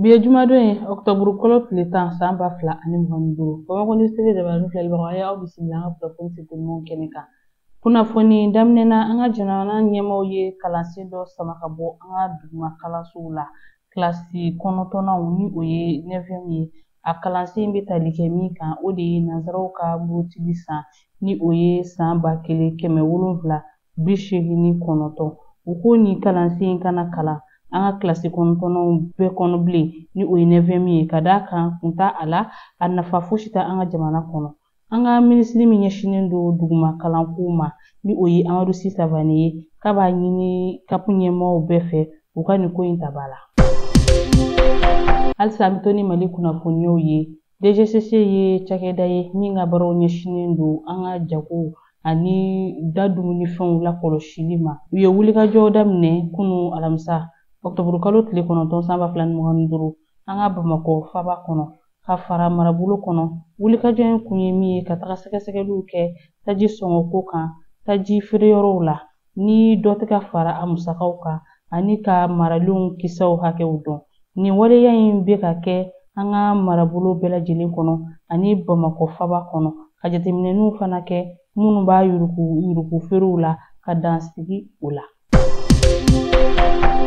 Bi ye jumadon ye ɔkutɔburu kalo tile tan san ba fila ani mugan ni duuru bamakɔ ni sebe jabarani filɛlibagaw a y'aw bisimila an ka kunnafoni sitimaw kɛnɛ kan kunnafoni daminɛ na an ka jamana ɲɛmaaw ye kalansen dɔ sama ka bɔ an ka duguma kalansow la kilasi kɔnɔntɔnnaw ni o ye neuvième ye a kalansen bɛ tali kɛ min kan o de ye nansaraw ka murutili san ni o ye san ba kelen kɛmɛ wolonwula bi seegin ni kɔnɔntɔn u ko nin kalansen in kana kalan an ka kilasi kɔnɔntɔnnaw bɛɛ kɔnɔ bilen ni o ye neuvième ye ka d'a kan kun t'a a la a nafa fosi tɛ an ka jamana kɔnɔ an ka minisiri min ɲɛsinnen don duguma kalanko ma ni o ye amadu si sawane ye k'a b'a ɲini kapu ɲɛmɔgɔw bɛɛ fɛ u ka nin ko in ta ba la halisa an bɛ to ni mali kunnafoniyaw ye DGCC ye cakɛda ye min ka baaraw ɲɛsinnen don an ka jago ani da dumunifɛnw lakɔlɔsili ma u ye wulikajɔ daminɛ kunu alamisa ɔkutɔburukalo tile kɔnɔntɔn san ba fila ni mugan ni duuru an ka bamakɔ faba kɔnɔ ka fara marabolo kɔnɔ wulikajɔ in kun ye min ye ka taga sɛgɛsɛgɛliw kɛ taji sɔngɔko kan taji feereyɔrɔw la ni dɔ tɛ ka fara a musakaw kan ani ka maralenw kisɛw hakɛw dɔn nin waleya in bɛ ka kɛ an ka marabolo bɛɛ lajɛlen kɔnɔ ani bamakɔ faba kɔnɔ ka jateminɛniw fana kɛ minnu b'a yuruguyurugu feerew la ka dan sigi o la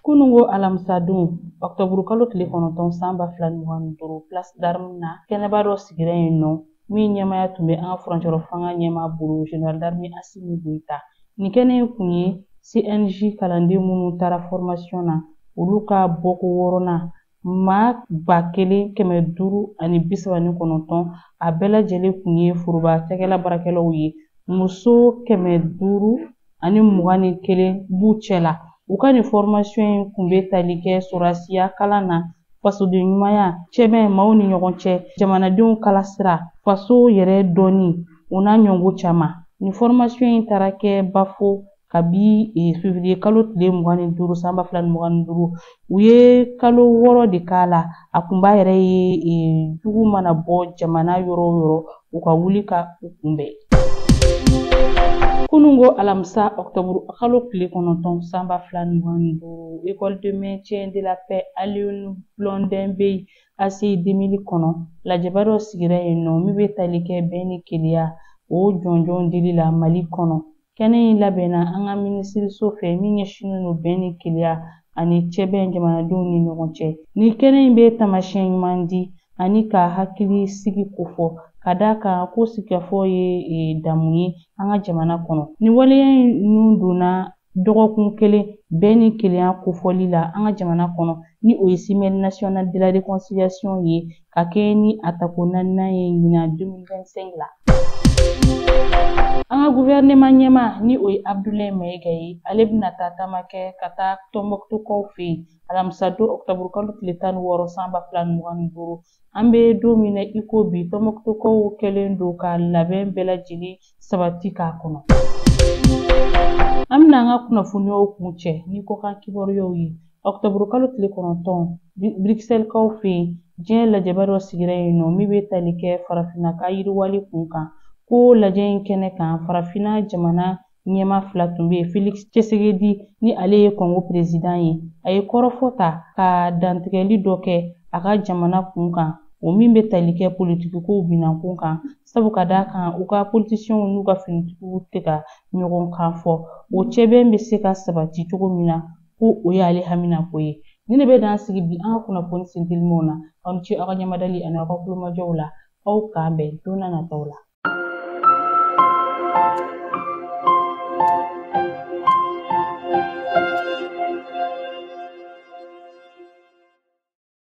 kunungo alamisadon ɔktɔburukalo tile kɔnɔntɔn san ba fila ni mugan ni duuru place d'armes na kɛnɛba dɔ sigira yen nɔ min ɲɛmaya tun bɛ an ka furancɛrɔ fanga ɲɛmaa bolo General d'armée Assimi Goïta nin kɛnɛ in kun ye CNJ kalanden minnu taara formation na olu ka bɔko wɔɔrɔnan maa ba kelen kɛmɛ duuru ani bi saba ni kɔnɔntɔn a bɛɛ lajɛlen kun ye foroba cakɛla baarakɛlaw ye muso kɛmɛ duuru ani mugan ni kelen b'u cɛ la u ka nin fɔrimasiyɔn in kun bɛ tali kɛ sɔrɔsiya kalan na fasoden ɲumanya cɛbɛn maaw ni ɲɔgɔn cɛ jamanadenw kala sira faso yɛrɛ dɔnni o n'a ɲɔgɔn caman nin fɔrimasiyɔn in taara kɛ bafo kabi eh, fevriye kalo tile mugan ni duuru san ba fila ni mugan ni duuru u ye kalo wɔɔrɔ de k'a la a kunba yɛrɛ ye eh, jugu mana bɔ jamana yɔrɔ o yɔrɔ u ka wuli ka u kunbɛn kunungo alamisa ɔktɔburu kalo tile kɔnɔntɔn sanba fila mugan ni duuru école de maintien de la paix alioune blondin beye ACI deux mille kɔnɔ lajɛba dɔ sigira yen nɔ min bɛ tali kɛ bɛn ni kelenya o jɔnjɔn dili la mali kɔnɔ Kɛnɛ in labɛnna an ka minisiriso fɛ min ɲɛsinnen don bɛn ni kelenya ani cɛbɛn jamanadenw ni ɲɔgɔn cɛ. Nin kɛnɛ in bɛ taamasiyɛn ɲuman di ani ka hakili sigi kofɔ ka d'a kan ko sigikafɔ ye damu ye an ka jamana kɔnɔ. Nin waleya ninnu donna dɔgɔkun kelen bɛn ni kelenya kofɔli la an ka jamana kɔnɔ ni o ye Semaine nationale de la réconciliation ye ka kɛɲɛ ni a tako naaninan ye ɲinan 2025 la. An ka guvɛrɛnɛman ɲɛmaa ni o ye Abdoulaye Maïga ye, ale bɛna taa taama kɛ ka taa Tɔnbɔkutukaw fɛ yen alamisadon ɔkutɔburukalo tile tan ni wɔɔrɔ san ba fila ni mugan ni duuru. An bɛ don min na i ko bi, Tɔnbɔkutukaw kɛlen don ka labɛn bɛɛ lajɛlen sabati k'a kɔnɔ an bɛna an ka kunnafoniyaw kuncɛ ni kɔkan kibaruyaw ye ɔkutɔburu kalo tile kɔnɔntɔn bruxelles-kaw fɛ yen diɲɛ lajɛba dɔ sigira yen nɔ min bɛ tali kɛ farafinna ka yiriwali kun kan ko lajɛ in kɛnɛ kan farafinna jamana ɲɛmaa fila tun bɛ yen félix tshisekedi ni ale ye kɔngo perezidan ye a ye kɔrɔfɔ ta ka dantigɛli dɔ kɛ a ka jamana kun kan o min bɛ tali kɛ politikikow bilan kun kan sabu ka d'a kan u ka politisiyɛnw n'u ka finitigiw tɛ ka ɲɔgɔn kan fɔ o cɛbɛn bɛ se ka sabati cogo min na ko o y'ale haminako ye nin de bɛ dan sigi bi an ka kunnafoni sentelimanw na aw ni ce aw ka ɲɛmadali ani aw ka kulomajɔw la aw k'an bɛn don na nataw la